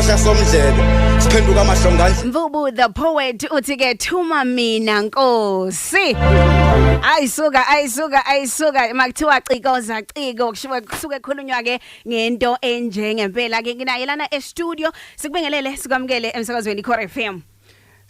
sasomdlebe siphenduka amahlongandla mvubu the poet uthi ke thuma mina nkosi ayisuka ayisuka ayisuka makuthiwa cikoza ciko kushiwe kusuke ekhulunywa ke ngento enjengempela ke nginaye lana e studio sikubingelele sikwamukele emsakazweni Core FM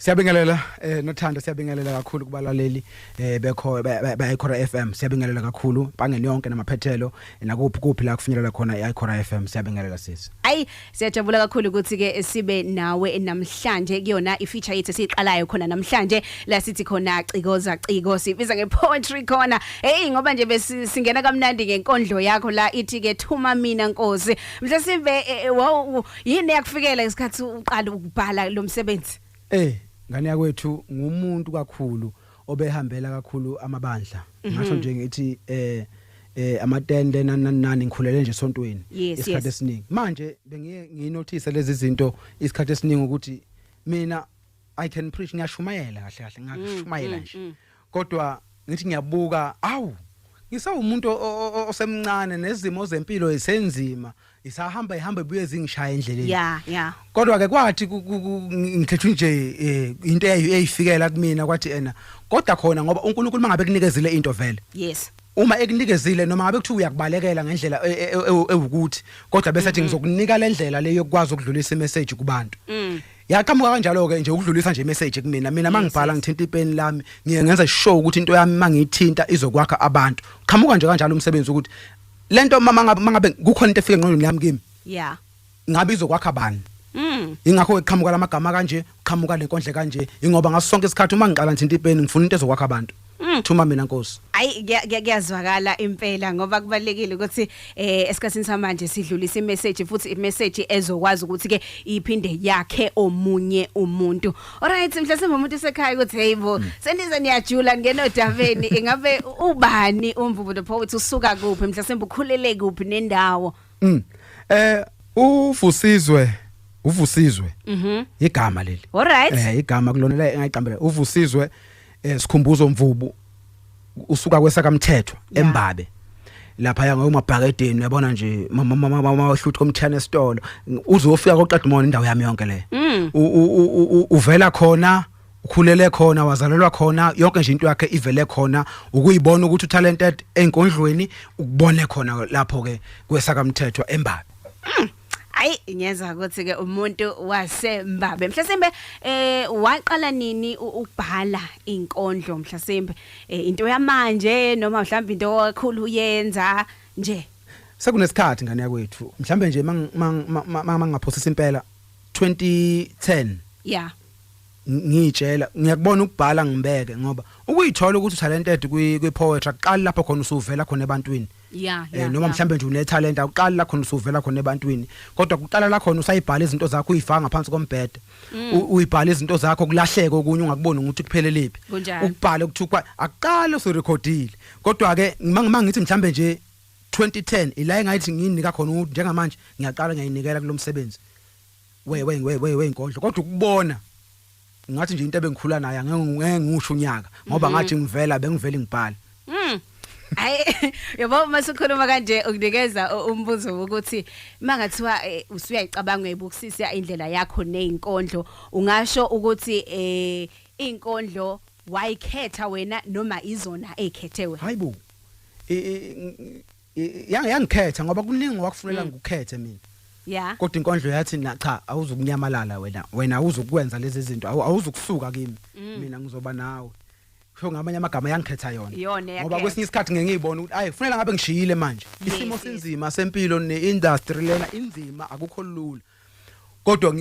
Siyabingelela eh nothando siyabingelela kakhulu kubalaleli eh bekho beyikhora FM siyabingelela kakhulu bangeni yonke namaphethelo nakuphi kuphi la kufinyelela khona iyikhora FM siyabingelela sisi Ayi siyajabula kakhulu ukuthi ke sibe nawe namhlanje kuyona ifeature yethu esiqalayo khona namhlanje la sithi khona cikoza ciko sibiza nge poetry khona hey ngoba nje besingena kamnandi ngenkondlo yakho la ithi ke thuma mina nkosi mhlawumbe sive eh, eh, wow yini yakufikela isikhathi uqala ukubhala lo msebenzi eh ngane yakwethu ngumuntu kakhulu obehambela kakhulu amabandla mhm. ngasho nje ngithi eh eh amatende nanani ngikhulele nje esontweni isikhathi esiningi manje bengiye nginothise lezi zinto isikhathi esiningi ukuthi mina i can preach ngiyashumayela kahle kahle ngashumayela mm, nje mm, mm. kodwa ngithi ngiyabuka awu ngisawumuntu osemncane nezimo zempilo isenzima isahamba ihamba ibuye zingishaya endleleni yeah yeah kodwa ke kwathi ngithethwe nje eh, into eyifikela kumina kwathi ena kodwa khona ngoba uNkulunkulu mangabe kunikezile into vele yes uma ekunikezile noma ngabe kuthiwa uyakubalekela ngendlela e, e, e, ewukuthi kodwa bese athi mm-hmm. ngizokunika lendlela le yokwazi ukudlulisa imessage kubantu mm. yaqhamuka kanjalo ke nje ukudlulisa nje message kumina mina mangibhala ngithinta ipeni lami ngiye ngenza show ukuthi into yami mangiyithinta izokwakha abantu qhamuka nje kanjalo umsebenzi ukuthi lento mama ngabe kukhona into efike ngqondweni yami kimi yeah ngabe izokwakha bani Mm. Ingakho eqhamuka lamagama kanje, qhamuka lenkondle kanje, ingoba ngaso sonke isikhathi uma ngiqala ngithinta ipeni ngifuna into ezokwakha abantu. Mm. thuma mina nkosi Ayi kuya- kuya- kuyazwakala impela ngoba kubalekile ukuthi eh esikhatsini samanje sidlulisa imessage futhi imessage ezokwazi ukuthi ke iphinde yakhe omunye umuntu. Alright mhlasimbe umuntu sekhaya ukuthi hey bo Mm. sendize niyajula ngeno daveni ingabe u- ubani umvubu the poet usuka kuphi mhlasimbe ukhulele kuphi nendawo. Mm. Eh uvusizwe uvusizwe Mhm. igama leli. Alright. Eh igama kulona la engayiqambela uvusizwe eh sikhumbuzo mvubu usuka kwesakamthethwa embabe lapha ya ngomabhakedeni uyabona nje mama mama mama ohlutha komthana esitolo uzofika koqedimona indawo yami yonke le mm. uvela khona ukhulele khona wazalelwa khona yonke nje into yakhe ivele khona ukuyibona ukuthi utalented enkondlweni ukubone khona lapho ke kwesakamthethwa embabe mm. Ayi ngiyeza ukuthi ke umuntu waseMbabe mhlasimbe eh waqala nini ukubhala inkondlo mhlasimbe eh, into yamanje noma mhlawumbe into kakhulu uyenza nje Sekunesikhathi ngane yakwethu mhlambe nje mangaphosisa impela 2010 Yeah ngiyitshela ngiyakubona ukubhala ngibeke ngoba ukuyithola ukuthi talented kwi kwi poetry aqali lapho khona usuvela khona ebantwini yeah, eh, yeah, noma mhlambe nje une talent awuqali la khona usuvela khona ebantwini kodwa kuqala la khona usayibhala izinto zakho uyifaka ngaphansi kombhede mm. uyibhala izinto zakho kulahleke okunye ungakuboni ukuthi kupheleliphi ukubhala ukuthukwa aqale usurecordile kodwa ke mangithi mhlambe nje 2010 ila engayithi nginika khona njengamanje ngiyaqala ngiyayinikela kulomsebenzi we we we we wenkondlo kodwa ukubona ngathi nje into ebengikhula naye angeke ngisho unyaka ngoba mhm. ngathi ngivela bengivela ngibhala mhm Hayi yabo masikhuluma kanje ukunikeza umbuzo ukuthi mangathiwa eh, usuyayicabanga ebukisisa indlela yakho nezinkondlo ungasho ukuthi eh izinkondlo wayikhetha wena noma izona ekhethe wena Hayibo yangikhetha ngoba kuningi ngokwakufunela mm. ngikukhethe mina yeah kodwa inkondlo yathi na cha awuzukunyamalala wena wena awuzukwenza lezi zinto awuzukusuka kimi mm. mina ngizoba nawe kusho ngamanye amagama yangikhetha yona ngoba kwesinye isikhathi ngeke ngiyibone ukuthi ayi kufanele ngabe ngishiyile manje isimo sinzima sempilo ne-industry lena inzima akukho lula kodwa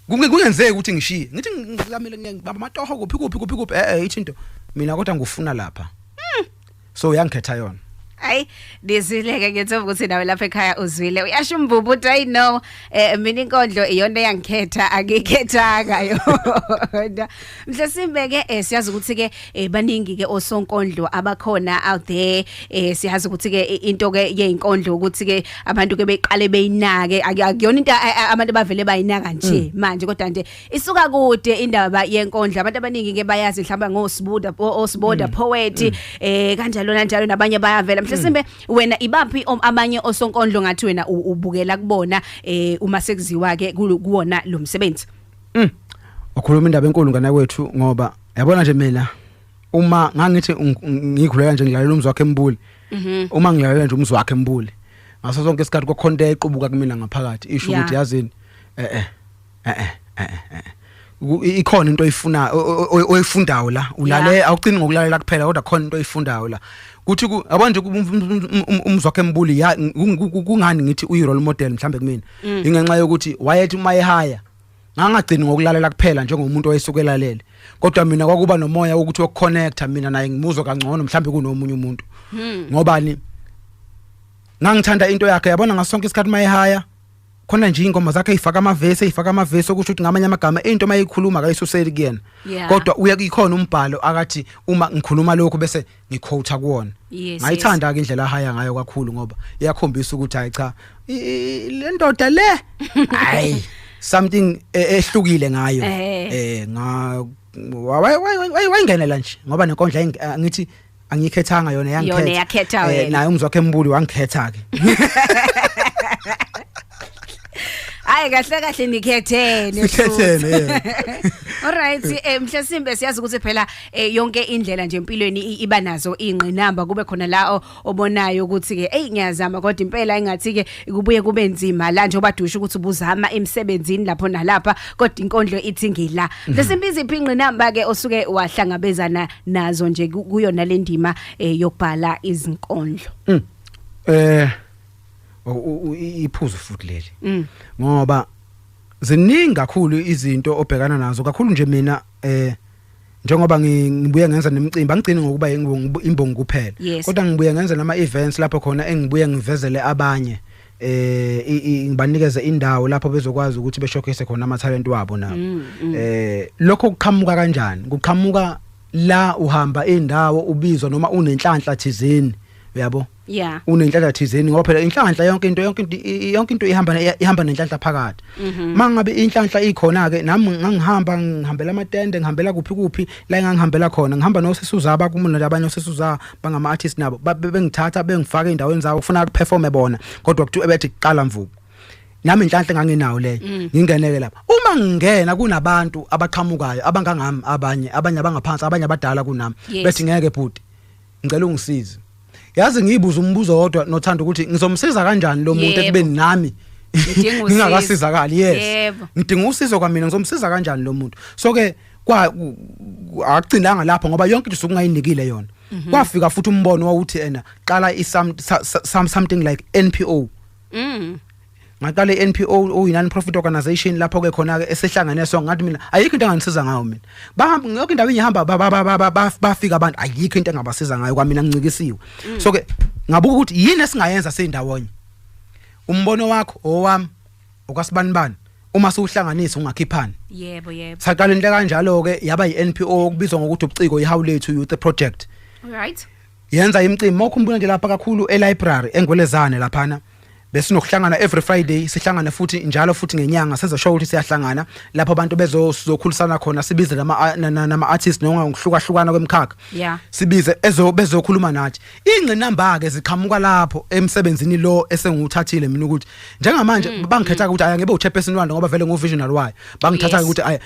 kungenzeki ukuthi ngishiye ngithi ngilamile ngibamba amatoho kuphi kuphi kuphi kuphi eh ithi into mina kodwa ngufuna lapha hmm. so uyangikhetha yona Ay dizileke ngethemba ukuthi nawe lapha ekhaya uzwile uyasho umvubu uthi i know eh mina inkondlo iyona eyangikhetha angikhethanga yona Mhlesimbe ke eh, siyazi ukuthi ke eh, baningi ke osonkondlo abakhona out there eh, siyazi ukuthi ke eh, into ke yeinkondlo ukuthi ke abantu ke beqale beyinake Aku- akuyona into a- a- abantu bavele bayinaka nje manje kodwa nje isuka kude indaba yenkondlo abantu abaningi ke bayazi mhlawumbe ngosibuda o- osiboda poet eh kanjalo nanjalo nabanye bayavela mhlesimbe wena ibaphi om- abanye osonkondlo ngathi wena u- ubukela kubona eh uma sekuziwa ke kulo- kuwona lo msebenzi Mm. Ukhuluma indaba enkulu ngana kwethu ngoba yabona nje mina uma ngangithi ngikhulela nje ngilalela umzi wakhe embuli. Mhm. Uma ngilalela nje umzi wakhe embuli. Ngaso sonke isikhathi kokhonta equbuka kumina ngaphakathi isho ukuthi yazini eh eh eh eh eh, eh, eh. ikhona into oyifuna oyifundayo la ulale awucini ngokulalela kuphela kodwa khona into oyifundayo la kuthi yabona nje umzwakhe embuli kungani ngithi uyi role model mhlambe kumina mm. ingenxa yokuthi wayethi uma ehaya ngangagcini ngokulalela kuphela njengomuntu oyesukelalele kodwa mina kwakuba nomoya wokuthi wokuconnecta mina naye ngimuzwe kangcono mhlawumbe kunomunye umuntu hmm. ngobani ngangithanda into yakhe yabona ngasonke isikhathi uma ehaya khona nje ingoma zakhe ayifaka amavesi ayifaka amavesi okusho ukuthi ngamanye amagama into mayikhuluma akayisuseli kuyena kodwa uye kuyikhona umbhalo akathi uma ngikhuluma lokho bese ngiquote kuona yes, ngayithanda yes. ke indlela ahaya ngayo kakhulu ngoba iyakhombisa ukuthi hayi cha le ndoda le hayi something e, ehlukile ngayo eh, eh nga wayingenela nje ngoba nenkondla eh, ngithi angikhethanga yona yangikhetha yona yakhetha eh, wena naye umzwakhe embuli wangikhetha ke Hayi kahle kahle nikhethene. Sikhethene. All right, eh mhlasimbe siyazi ukuthi phela eh, yonke indlela nje empilweni i- iba nazo ingqinamba kube khona la o- obonayo ukuthi ke hey ngiyazama kodwa impela engathi ke kubuye kube nzima la nje obadusha ukuthi ubuzama emsebenzini lapho nalapha kodwa inkondlo ithi ngila. Mhlasimbe iziphi ingqinamba ke osuke wahlangabezana nazo nje ku- kuyona lendima eh, yokubhala izinkondlo. Eh iphuzu futhi leli mm. ngoba ziningi kakhulu izinto obhekana nazo kakhulu nje mina eh njengoba ngibuye ngenza nemicimbi angigcini ngokuba imbongi kuphela kodwa ngibuye ngenza nama events lapho khona engibuye ngivezele abanye eh ngibanikeze indawo lapho bezokwazi ukuthi beshowcase khona ama talent wabo nabo mm, mm. eh lokho kuqhamuka kanjani kuqhamuka la uhamba indawo ubizwa noma unenhlanhla thizeni uyabo yeah unenhlanhla thizeni ngoba phela inhlanhla yonke into yonke into yonke into ihamba ihamba nenhlanhla phakathi mhm. mangabe inhlanhla ikhona ke nami ngangihamba ngihambela amatende ngihambela kuphi kuphi la engangihambela khona ngihamba nosisuza abakumona labanye osisuza bangama artist nabo bengithatha bengifaka endaweni zawo kufuna ukuperforme bona kodwa kuthiwa bethi kuqala mvubu nami inhlanhla ngangenawo leyo mm. ngingeneke lapha uma ngingena kunabantu abaqhamukayo abangangami abanye abanye abangaphansi abanye abadala kunami bese ngeke bhuti ngicela ungisize yazi ngiyibuza umbuzo wodwa nothanda ukuthi ngizomsiza kanjani lo muntu ekubeni nami ngingakasizakali yes ngidinga usizo kwamina ngizomsiza kanjani lo muntu so ke kwa agcinanga lapho ngoba yonke into sokungayinikile yona mhm. kwafika futhi umbono wawuthi ena qala i something like NPO mm. ngaqala iNPO uyinan profit organization lapho ke khona ke esihlangene so ngathi mina ayikho into engangisiza ngayo mina bahamba yonke indawo engihamba bafika abantu ayikho into engabasiza ngayo kwamina ngincikisiwe mm. so ke ngabuka ukuthi yini esingayenza sindawonye umbono wakho owami okwasibanibani uma siwuhlanganisa ungakhiphani yebo yebo saqala into kanjalo ke yaba yiNPO okubizwa ngokuthi ubuciko iHawlethu Youth Project right yenza imicimbi mawukhumbula nje lapha kakhulu eLibrary engwelezane laphana besinokuhlangana every friday sihlangane futhi njalo futhi ngenyanga sezosho ukuthi siyahlangana lapho abantu bezokhulisana khona sibize nama artist noma ngokuhlukahlukana kwemkhakha yeah. sibize ezo bezokhuluma nathi ingqinamba ke ziqhamuka lapho emsebenzini lo esenguthathile mina ukuthi njengamanje mm, bangikhetha mm. ukuthi aya ngibe uchairperson walo ngoba vele nguvisionary wayo bangithatha yes. ukuthi aya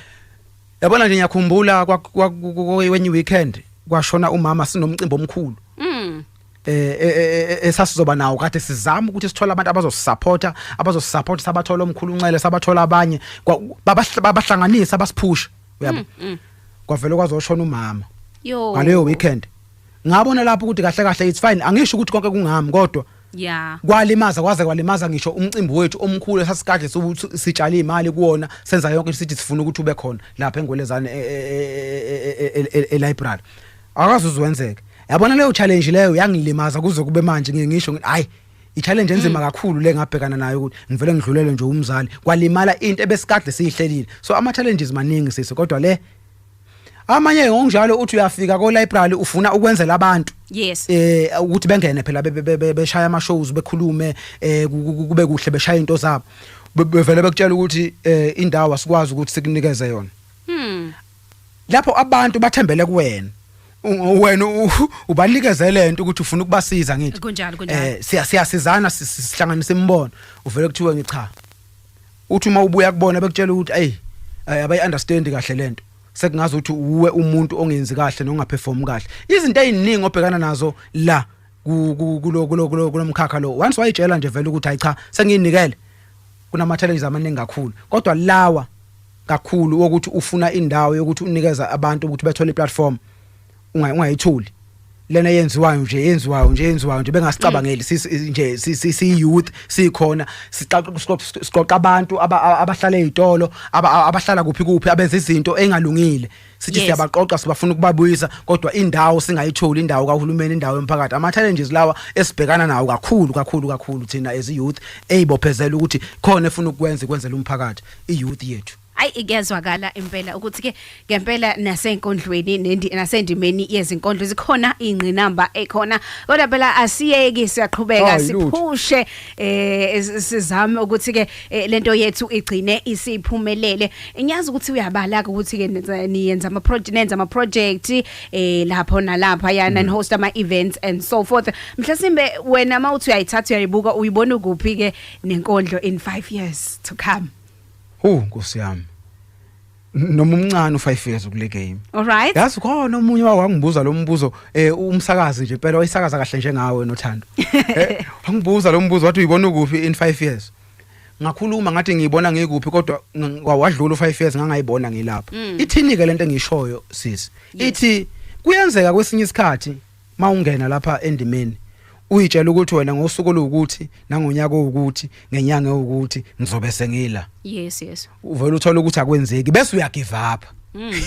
yabona nje ngiyakhumbula kwenye weekend kwashona umama sinomcimbi omkhulu mm. eh, eh, eh, esasizoba nawo kade sizama ukuthi sithole abantu abazosupporta abazosupporta sabathola omkhulu unxele sabathola abanye babahlanganisa abasiphusha uyabo mm, mm. kwavele kwazoshona umama yo ngaleyo weekend ngabona lapho ukuthi kahle kahle it's fine angisho ukuthi konke kungami kodwa yeah kwalimaza kwaze kwalimaza ngisho umcimbi wethu omkhulu sasikade sitshala imali kuona senza yonke sithi sifuna ukuthi ube khona lapha engwelezane e, e, e, e library akaze uzwenzeke yabona leyo challenge leyo yangilimaza kuze kube manje ngeke ngisho ngithi hayi i-challenge enzima mm. kakhulu le ngabhekana nayo ukuthi ngivele ngidlulele nje umzali kwalimala into ebesikade siyihlelile so ama-challenges maningi sisi kodwa le amanye ngokunjalo uthi uyafika ko library ufuna ukwenzela abantu yes eh ukuthi bengene phela beshaya ama shows bekhulume eh kube kuhle beshaya into zabo bevele bekutshela ukuthi eh indawo asikwazi ukuthi sikunikeze yona hmm lapho abantu bathembele kuwena wena ubanikeze lento ukuthi ufuna ukubasiza ngithi kunjalo kunjalo eh siya siyasizana sihlanganisa imibono uvele kuthiwe ngicha uthi uma ubuya kubona bekutshela ukuthi hey eh, abayi understand kahle lento sekungazi ukuthi uwe umuntu ongenzi kahle nongaperform kahle izinto eziningi obhekana nazo la kulomkhakha lo once wayitshela nje vele ukuthi hayi cha sengiyinikele kunama challenges amaningi kakhulu kodwa lawa kakhulu wokuthi ufuna indawo yokuthi unikeza abantu ukuthi bethole iplatform ungayitholi lena yenziwayo nje yenziwayo nje yenziwayo nje bengasicabangeli nje si youth sikhona siqoqa abantu abahlala ezitolo abahlala kuphi kuphi abenza izinto engalungile sithi Yes. siyabaqoqa sibafuna ukubabuyisa kodwa indawo singayitholi indawo kahulumeni indawo yomphakathi ama challenges lawa esibhekana nawo kakhulu kakhulu kakhulu thina as i youth eyibophezela ukuthi khona efuna ukwenza kwenzela umphakathi i youth yethu Ay ikuyazwakala impela ukuthi ke ngempela nasenkondlweni nendi nasendimeni yezinkondlo zikhona ingqinamba ekhona kodwa phela asiyeki siyaqhubeka Hayi, lutho. siphushe eh sizame ukuthi ke eh, lento yethu igcine isiphumelele ngiyazi ukuthi uyabala ke ukuthi ke niyenza ama project nenza ama project eh lapho nalapha yana and mm. host ama events and so forth mhlasimbe wena mawuthi uyayithatha uyayibuka uyibona kuphi ke nenkondlo in 5 years to come Hu nkosi yami noma umncane u5 years kule game alright yazi khona omunye wangibuza lo mbuzo eh umsakazi nje impela oyisakaza kahle njengawe nothando eh wangibuza lo mbuzo wathi uyibona ukuphi in 5 years ngakhuluma ngathi ngiyibona ngikuphi kodwa kwawadlula u5 years ngangayibona ngilapha mm. ithini ke lento engishoyo sisi ithi kuyenzeka kwesinye isikhathi mawungena lapha endimeni uyitshela ukuthi wena ngosuku oluwukuthi nangonyaka owukuthi ngenyanga ewukuthi ngizobe sengila yes yes uvela uthola ukuthi akwenzeki bese uyagive up Mm.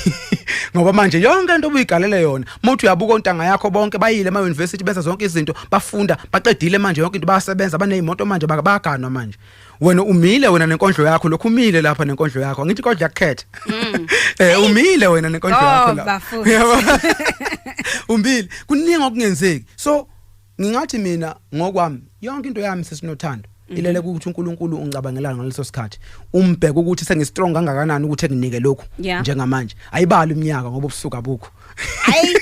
ngoba manje yonke into obuyigalela yona muthi uyabuka ontanga yakho bonke bayile ema university benza zonke izinto bafunda baqedile manje yonke into bayasebenza banezimoto manje bakabaganwa manje wena umile wena nenkondlo yakho lokhu umile lapha nenkondlo yakho angithi kodwa yakukhetha mm. eh umile wena nenkondlo oh, yakho lapha umile kuningi okungenzeki so ngingathi mina ngokwami yonke into yami sesinothando mhm. ilele ukuthi uNkulunkulu ungicabangelana ngaleso sikhathi umbheke ukuthi sengistrong kangakanani ukuthi enginike lokhu njengamanje ayibali iminyaka ngoba ubusuka bukho hayi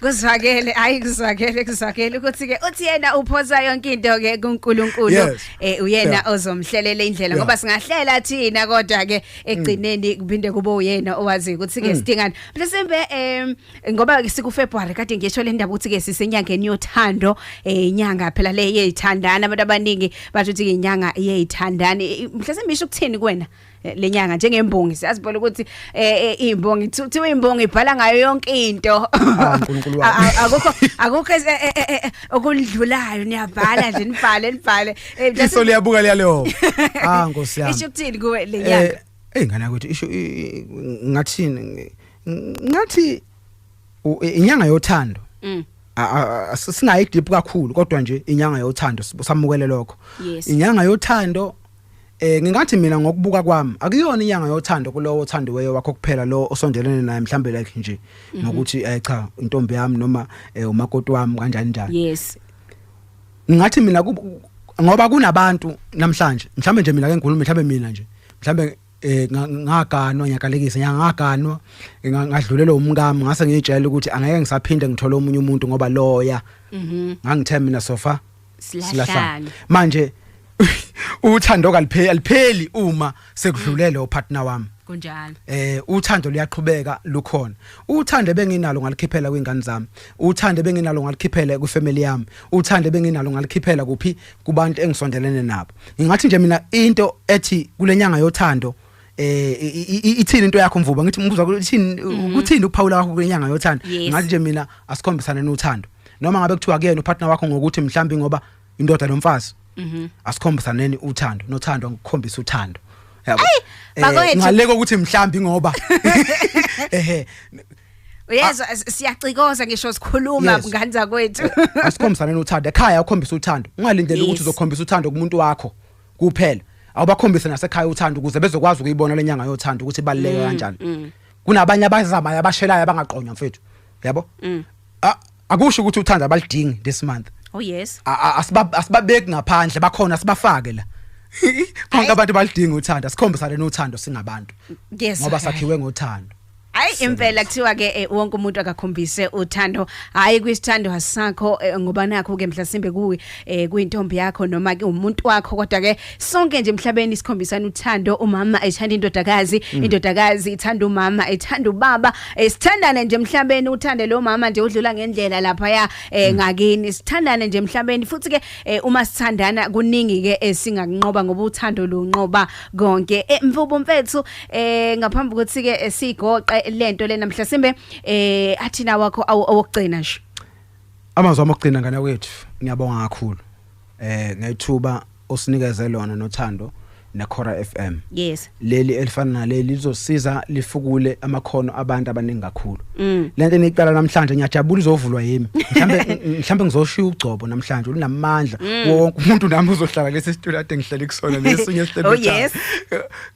kuzwakele hayi kuzwakele kuzwakele ukuthi ke uthi yena uphosa yonke into ke kuNkulunkulu yes. eh uyena yeah. ozomhlelela indlela yeah. ngoba singahlela thina kodwa ke egcineni mm. kuphinde kube uyena owazi ukuthi ke mm. sidingani mhlawumbe em ngoba siku February kade ngisho le ndaba ukuthi ke sisenyangeni yothando eh inyanga phela le yeyithandana abantu abaningi bathi ukuthi inyanga yeyithandani mhlawumbe isho ukuthini kuwena eh, lenyanga njengembongi siyazi phela ukuthi eh, eh, imbongi kuthiwa imbongi ibhala ngayo yonke into ah, uNkulunkulu wami. A- a- akukho akukho es- eh, eh, eh, eh, okundlulayo niyabhala nje nibhale nibhale Eh, just- iso liyabuka liyaleho ah nkosi yami isho ukuthini kuwe Eh, lenyanga eyi ngane yakwethu isho i- i- ngathini ngi- ngathi u- i- inyanga yothando Mm. A- a- a- singayi deep kakhulu kodwa nje inyanga yothando sibu- samukele lokho Yes. inyanga yothando Eh ngingathi mina ngokubuka kwami akuyona inyanga yothando kulowo othandiweyo wakho kuphela lo osondelene naye mhlambe like nje mhm. ngokuthi eh cha intombi yami noma eh, umakoti wami kanjani njani. Yes. Ngathi mina ngoba kunabantu namhlanje mhlambe nje mina ke ngikhuluma mhlambe mina nje mhlambe eh ngaganwa ngiyakalekisa ngiyangaganwa ngadlulelwa umkami ngase ngiyitshela ukuthi angeke ngisaphinde ngithole omunye umuntu ngoba loya mhm ngangithe mina sofa silahlane manje uthando kalipheli alipheli uma sekudlulele upartner wami kunjalo eh uthando luyaqhubeka lukhona uthando benginalo ngalikhiphela kwingane zami uthando benginalo ngalikhiphela kwifamily yami uthando benginalo ngalikhiphela kuphi kubantu engisondelene nabo ngingathi nje mina into ethi kulenyanga yothando eh ithini into yakho mvuba ngithi umbuzo wakho ithini mhm. ukuthini ukuphawula kwakho kwenyanga yothando ngathi nje mina asikhombisane nothando noma ngabe kuthiwa kuyena upartner wakho ngokuthi mhlambi ngoba indoda nomfazi mhm. asikhombisane uthando nothando ngikukhombisa uthando yabo eh, ngaleko ukuthi mhlambi ngoba ehe Uyezwa ah. siyacikoza ngisho sikhuluma ngani zakwethu. Asikhombisane nothando ekhaya ukhombisa uthando. Ungalindele ukuthi uzokhombisa uthando kumuntu wakho. kuphela awubakhombise nasekhaya uthando ukuze bezokwazi ukuyibona lenyanga yothando ukuthi baluleke mm, kanjani mm. kunabanye abazamayo abashelayo abangaqonywa mfethu yabo mm. akusho ukuthi uthando abalidingi this month oh yes asibabeki ngaphandle bakhona sibafake la bonke abantu balidinga uthando sikhombisane nothando singabantu ngoba sakhiwe ngothando Hayi impela kuthiwa ke eh, wonke umuntu akakhombise uthando hayi kwisithando hasakho eh, ngoba nakho ke mhlasimbe kuwe eh, kuyintombi yakho noma ke umuntu wakho kodwa ke sonke nje emhlabeni sikhombisana uthando umama ethanda indodakazi mm. indodakazi ithanda umama ethanda ubaba eh, sithandane nje emhlabeni uthande lo mama nje udlula ngendlela lapha ya eh, mm. ngakini sithandane nje emhlabeni futhi ke eh, uma sithandana kuningi ke esingakunqoba ngoba uthando lunqoba konke eh, mvubo mfethu eh ngaphambi ukuthi ke eh, sigoqe lento lena mhlasimbe eh athina wakho awokugcina nje amazwi amokugcina ngane wethu ngiyabonga kakhulu eh ngayithuba osinikeze lona nothando nekhora FM yes leli elifana naleli lizosiza lifukule amakhono abantu abaningi kakhulu Mm. lento eniqala namhlanje ngiyajabula izovulwa yimi mhlambe mhlambe ngizoshiya ugcobo namhlanje unamandla mm. wonke umuntu nami uzohlala lesi situlo ade ngihlele kusona lesinye sihlele oh, yes.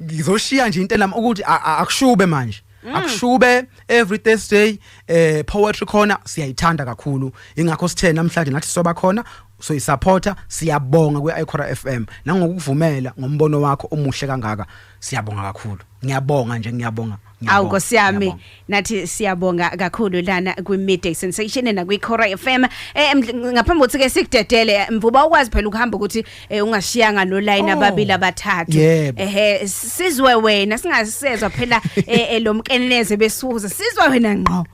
ngizoshiya nje into nami ukuthi akushube manje Mm. akushube every Thursday eh poetry corner siyayithanda kakhulu ingakho sithe namhlanje nathi soba khona so isupporter siyabonga kwi Icora FM nangokuvumela ngombono wakho omuhle kangaka siyabonga kakhulu ngiyabonga nje ngiyabonga Awu Nkosi yami nathi siyabonga kakhulu lana kwi midday sensation na kwi Cora FM eh mdl- ngaphambi kokuthi ke sikudedele eh, mvuba ukwazi phela ukuhamba ukuthi eh, ungashiyanga no line Oh. ababili abathathu Yebo. ehe sizwe wena singasezwa phela eh, eh, lo mkeneneze besuza sizwe wena ngqo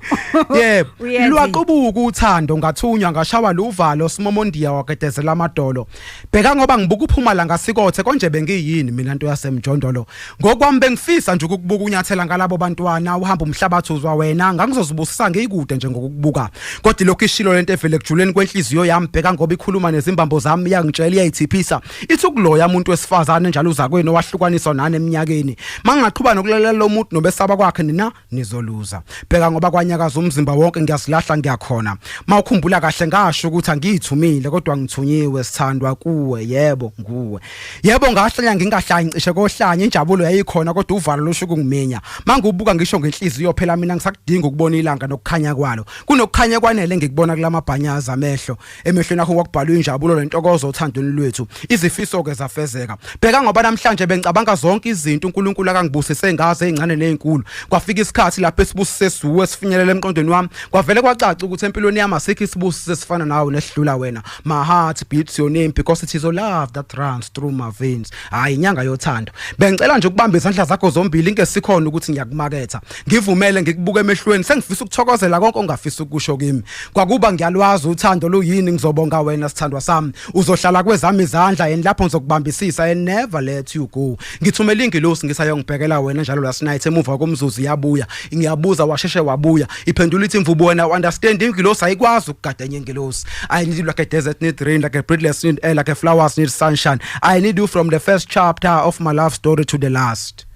yebo Uyenzi. lwaqubuka uthando ngathunywa ngashawa luvalo simomondiya wagedezela amadolo bheka ngoba ngibuka uphuma la ngasikothe konje bengiyini mina nto yasemjondolo ngokwami bengifisa nje ukukubuka unyathela ngalabo bantwana uhamba umhlabathi uzwa wena ngangizozibusisa ngiyikude nje ngokukubuka kodwa lokho ishilo lento evele kujuleni kwenhliziyo yami bheka ngoba ikhuluma nezimbambo zami iyangitshela iyayithiphisa ithi ukuloya umuntu wesifazane njalo uzakwenu owahlukaniswa nani eminyakeni mangaqhubana ukulalela lo muntu nobesaba kwakhe nina nizoluza bheka ngoba kwanyakaza umzimba wonke ngiyasilahla ngiyakhona mawukhumbula kahle ngasho ukuthi angiyithumile kodwa ngithunyiwe sithandwa kuwe yebo nguwe yebo ngahlanya ngingahlanyi cishe kohlanya injabulo yayikhona kodwa uvalo losho kungiminya mangibuka ngisho ngenhliziyo phela mina ngisakudinga ukubona ilanga nokukhanya kwalo kunokukhanya kwanele ngikubona kulamabhanyaza amehlo emehlweni akho kwakubhalwa injabulo lentokozo othandweni lwethu izifiso ke zafezeka bheka ngoba namhlanje bengicabanga zonke izinto uNkulunkulu akangibusise ngaze ezincane nezinkulu kwafika isikhathi lapho esibusise suwe esifinyelela emqondweni wami kwavele kwacaca ukuthi empilweni yami asikho isibusise esifana nawe nesidlula wena my heart beats your name because it is your love that runs through my veins hayi inyanga yothando bengicela nje ukubamba izandla zakho zombili ngesikhona ukuthi ngiyakumaketha ngivumele ngikubuke emehlweni sengifisa ukuthokozela konke ongafisa ukusho kimi kwakuba ngiyalwazi uthando luyini ngizobonga wena sithandwa sami uzohlala kwezami izandla and lapho ngizokubambisisa and never let you go ngithumela ingilosi ngisayongibhekela wena njalo last night emuva komzuzu iyabuya ngiyabuza washeshe wabuya iphendula ithi mvubu wena understand ingilosi ayikwazi ukugada enye ingilosi i need you like a desert need rain like a breedless need air like a flowers need sunshine i need you from the first chapter of my love story to the last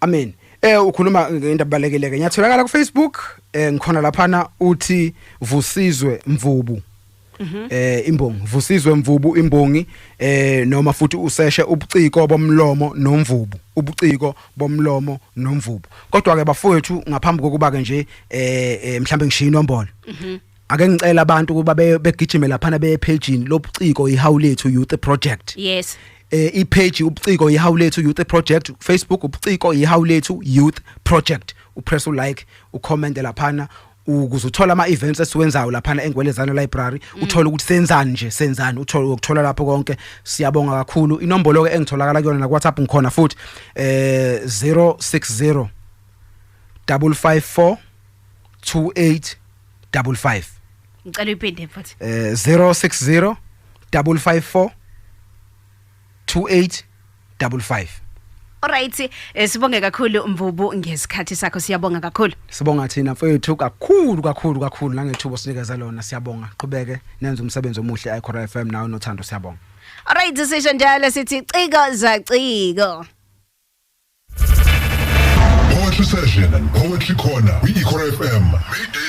Amen. Eh ukhuluma ngento abalekile ke. Ngiyatholakala ku Facebook eh ngikhona lapha na uthi Vusizwe Mvubu. Mhm. eh imbongi vusizwe mvubu imbongi eh noma futhi useshe ubuciko bomlomo nomvubu ubuciko bomlomo nomvubu kodwa ke bafowethu ngaphambi kokuba ke nje eh, eh mhlambe ngishiya inombolo mhm. ake ngicela abantu ukuba be- begijime laphana beye pagini lobuciko ihawu lethu youth project yes eh ipage ubuciko ihawu lethu youth project facebook ubuciko ihawu lethu youth project upress ulike ucomment laphana ukuze uthola ama events esiwenzayo laphana engwelezana library uthole ukuthi senzani nje senzani uthole ukuthola lapho konke siyabonga kakhulu inombolo ke engitholakala kuyona na WhatsApp ngikhona futhi eh 060 554 2855 ngicela uyiphinde mfowethu eh 060 554 2855 Alright, eh, sibonge kakhulu Mvubu ngesikhathi sakho siyabonga kakhulu. Sibonga thina mfowethu kakhulu kakhulu kakhulu nangethuba osinikeza lona siyabonga. Qhubeke nenze umsebenzi omuhle eCora FM nawe nothando siyabonga. Alright, sisho njalo sithi ciko za ciko. Poetry Session and Poetry Corner, Ikora FM, middays